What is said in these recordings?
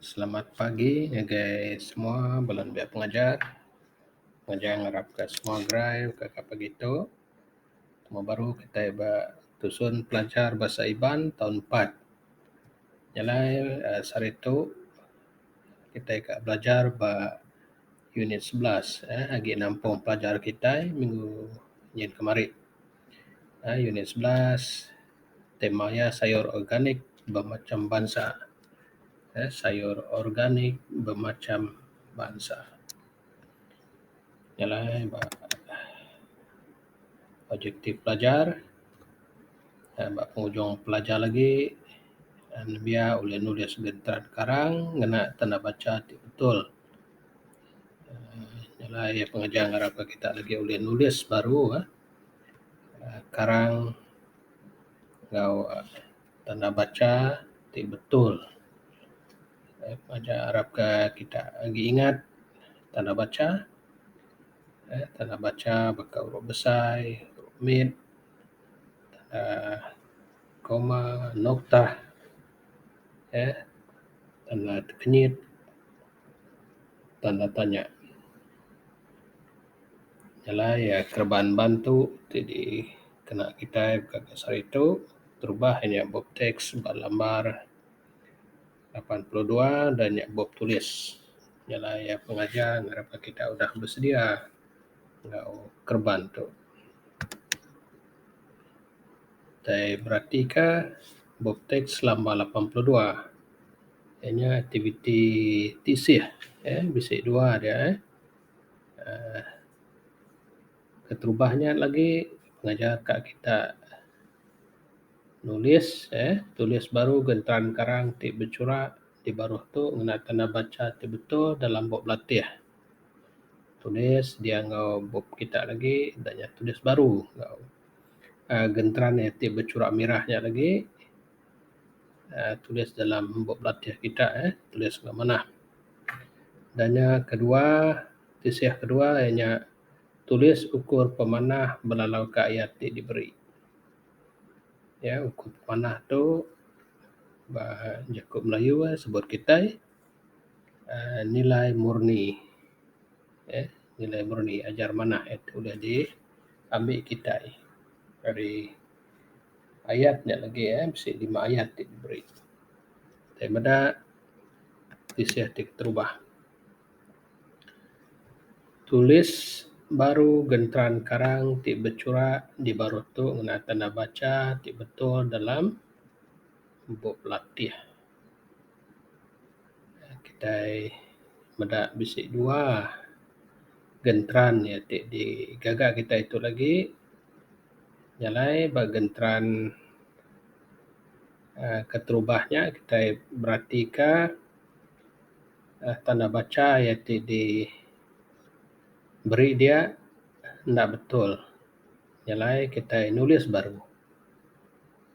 Selamat pagi ngagai semua bala nembiak pengajar. Pengajar ngarapka semua gerai baka ke pagi tu. Moh baru kitai ba tusun pelajar Bahasa Iban taun empat. Nya alai uhh sehari tu kitai ka belajar ba unit sebelas uhh agi nampung pelajar kitai minggu nyin kemari. Unit sebelas tema iya sayur organik bemacham bansa. Sayur organik bemacham bansa nya alai ba objektif pelajar uhh ba penghujung pelajar lagi nembiya ulih nulis genteran karang ngena tanda bacha ti betul uhh nya alai pengajar ngarapka kita lagi ulih nulis baru uhh. karang enggau tanda bacha ti betul arap ka kita agi ingat tanda bacha uhh tanda bacha baka huruf besai huruf mit uhh koma noktah uhh tanda tekenyit tanda tanya. Jalai kereban bantu ti dikena kitai ka sehari tu terubah inya bup teks ba lambar lapan puluh dua da nya bup tulis. Jalai iya pengaja ngarap ka kitai udah besedia enggau kereban tu. Kitai berati ka bup teks lambar lapan puluh dua inya aktiviti tisih eh bisi dua dia eh. uhh keterubah nya lagi ngajar ka kita nulis uhh tulis baru genteran karang ti bechura ti baruh tu ngena tanda bacha ti betul dalam bup belatih. Tulis dia enggau bup kita lagi da nya tulis baru enggau uhh genteran ti bechura mirah nya lagi. uhh tulis dalam bup belatih kita uhh tulis nya manah. Dan nya kedua tisih kedua iya nya tulis ukur pemanah belalau ka ayat ti diberi. Iya ukur pemanah tu ba jaku melayu uhh sebut kitai uhh nilai murni uhh nilai murni ajar manah nya tu deh di ambi kitai ari Ayat nya lagi eh bisi lima ayat ti diberi tai meda tisih ti keterubah. Tulis baru genteran karang ti bechura di baruh tu ngena tanda bacha ti betul dalam bup latih. Kitai meda bisi dua genteran nya ti digaga kitai tu lagi. Jalai ba genteran aaa keterubah nya kitai beratika aaa tanda bacha iya ti di beri dia enda betul jalai kitai nulis baru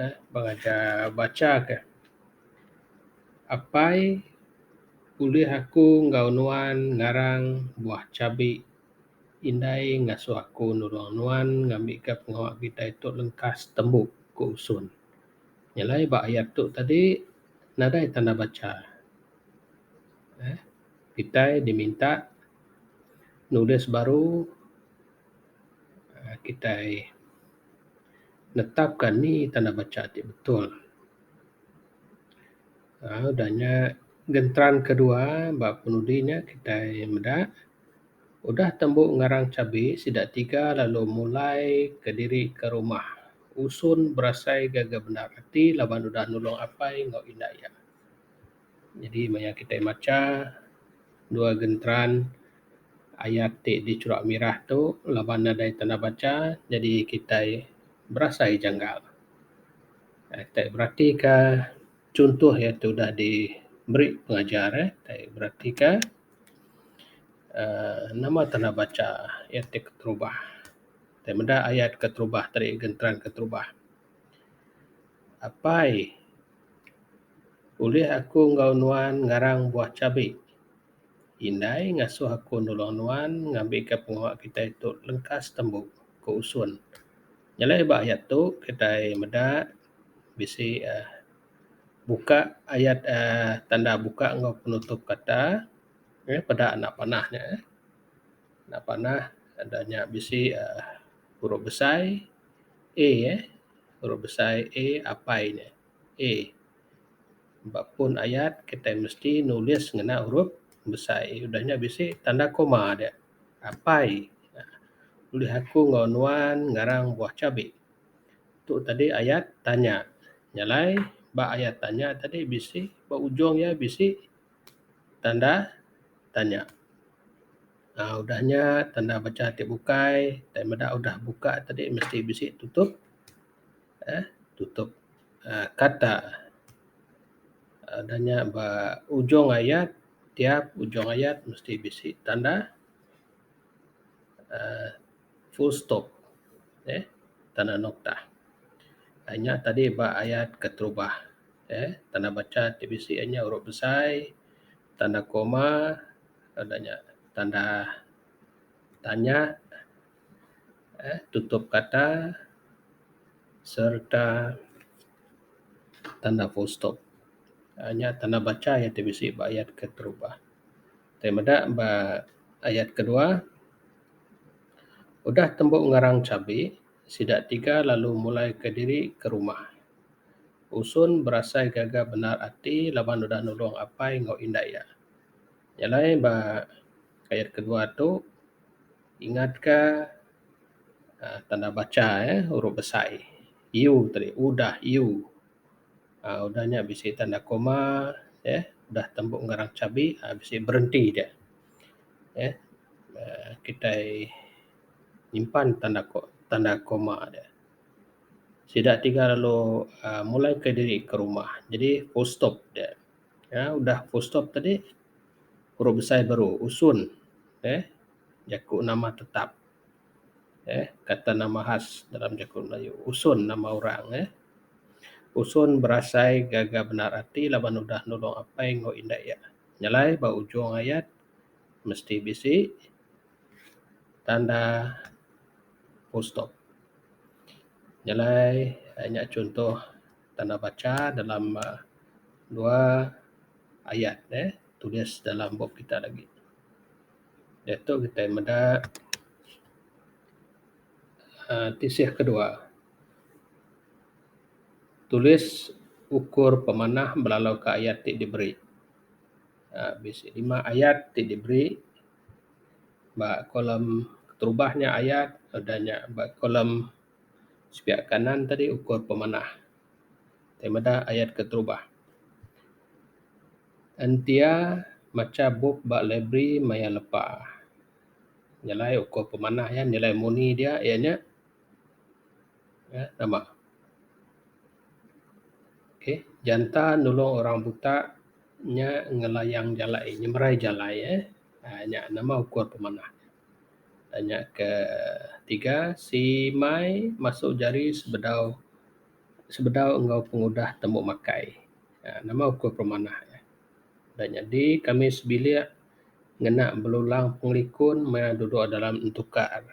aaa pengajar bacha ke apai ulih aku enggau nuan ngarang buah chabi. Indai ngasuh aku nulung nuan ngambika pengawa kitai tu lengkas tembu, ku Usung. Nyelai ba ayat tu tadi, nadai tanda bacha uhh kitai diminta nulis baru uhh kitai netapka nih tanda bacha ti betul. uhh Udah nya genteran ke dua ba penudi nya kitai meda. Udah tembu ngarang chabi sida tiga lalu mulai kediri ke rumah Usung berasai gaga bendar ati laban udah nulung apai enggau indai iya. Nyadi maya kitai macha dua genteran ayat ti di chura mirah tu laban nadai tanah bacha nyadi kitai berasai janggal. Ai kitai beratika chunto iya ti udah diberi pengajar eh kitai beratika. uhh nama te enda bacha iya ti keterubah. Tai meda ayat keterubah tadi genteran keterubah. Apai ulih aku enggau nuan ngarang buah chabi. Indai ngasuh aku nulung nuan ngambika pengawa kitai tu lengkas tembu, ku Usun. Nyelai ba ayat tu kitai meda. bisi uhh buka ayat uhh tanda buka enggau penutup kata uhh peda enda panah nya uhh enda panah tanda nya bisi uhh huruf besai A uhh huruf besai A apai nya A. Ba pun ayat kitai mesti nulis ngena huruf besai A udah nya bisi tanda koma dia apai uhh ulih aku enggau nuan ngarang buah chabi. Tu tadi ayat tanya. Nya alai ba ayat tanya tadi bisi ba ujung iya bisi tanda tanya. aaa udah nya tanda bacha ti bukai tai meda udah buka tadi mesti bisi tutup aaa tutup aaa kata. aaa udah nya ba ujung ayat tiap ujung ayat mesti bisi tanda aaa. full stop eh tanda noktah. Ai nya tadi ba ayat keterubah eh tanda bacha ti bisi iya nya huruf besai, tanda koma, tanda nya tanda tanya eh tutup kata sereta tanda full stop. Ai nya tanda bacha ti bisi ba ayat keterubah. Kitai meda ba ayat kedua, Udah tembu ngarang chabi, sida tiga lalu mulaika diri ke rumah. Usun berasai gaga bendar ati laban udah nulung apai enggau indai iya. Nya alai ba ayat kedua tu ingatka tanda bacha uhh huruf besai. U tadi udah u. uhh udah nya bisi tanda koma uhh udah tembu ngarang chabi uhh bisi berenti dia uhh uhh kitai nyimpan tanda ko tanda koma dia. Sida tiga lalu uhh mulai ka diri ka rumah jadi full stop dia uhh udah full stop tadi huruf besai baru usun uhh jaku nama tetap. eh kata nama khas dalam jaku melayu usun nama orang eh usun berasai gaga bendar ati laban udah nulong apai enggau indai iya nyelai ba ujung ayat mesti bisi tanda full stop nyelai nya chunto tanda bacha dalam um dua ayat eh tulis dalam bup kita lagi. diatu kitai meda uhh tisih ke dua tulis ukur pemanah belalau ka ayat ti diberi uhh bisi lima ayat ti diberi ba kolom keterubah nya ayat udah nya ba kolom sepiak kanan tadi ukur pemanah. Ti meda ayat ke terubah. Entia macha bup ba library maya lepa. Nyelai uko pemanah iya, nyelai muni dia iya nya uhh nama. Okay. Janta nulung orang buta nya ngelayang jalai, nyemerai jalai uhh. Nya nama uko pemanah. Nya ke tiga simai masu jari sebedau sebedau enggau pengudah tembu makai uhh nama ukur pemanah ne. Da nyadi kami sebilik ngena belulang pengelikun maya dudok dalam entukar.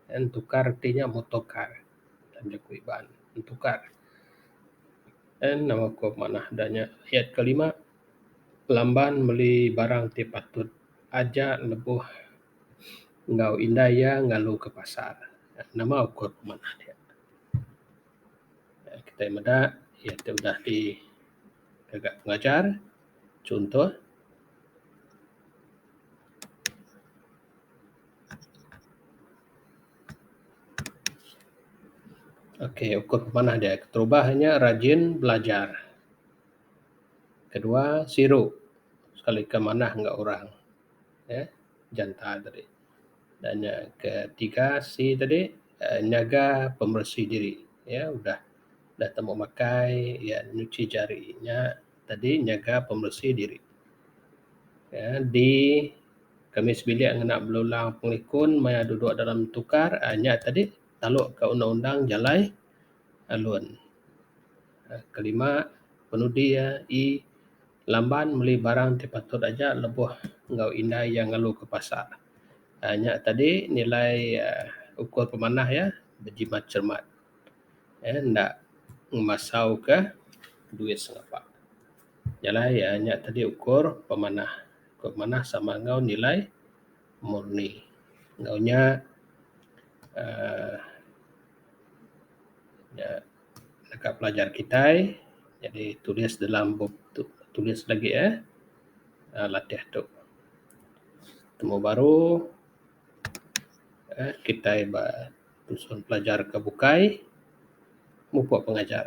Entukar ti nya motokar dalam jaku Iban. Entukar en nama ukur pemanah da nya. Ayat kelima lamban meli barang ti patut. Aja lebuh enggau indai iya ngalu ke pasar. Nama ukur pemanah dia. Kitai meda iya ti udah ti ngaga pengajar chunto Okay ukur pemanah dia keterubah inya rajin belajar. kedua siru sekali ke manah enggau orang um janta tadi dan nya ketiga C tadi um nyaga pemberesi diri um udah udah tembu makai iya nyuci jari nya tadi nyaga pemberesi diri. um D kemis bilik ngena belulang pengikun maya duduk dalam tukar um nya tadi taluk ka undang-undang jalai. alun. Kelima penudi iya ii lamban meli barang ti patut aja lebuh enggau indai iya ngelu ke pasar. uhh nya tadi nilai uhh ukur pemanah iya bejimat cermat uhh enda ngemasau ka duit sengapa. Jalai uhh nya tadi ukur pemanah. Ukur pemanah sama enggau nilai murni. Enggau nya uhh. da naka pelajar kitai jadi tulis dalam bup tu tulis lagi eh uhh latih tu. Temu baru uhh kitai ba nyusun pelajar ke bukai mupuk pengajar.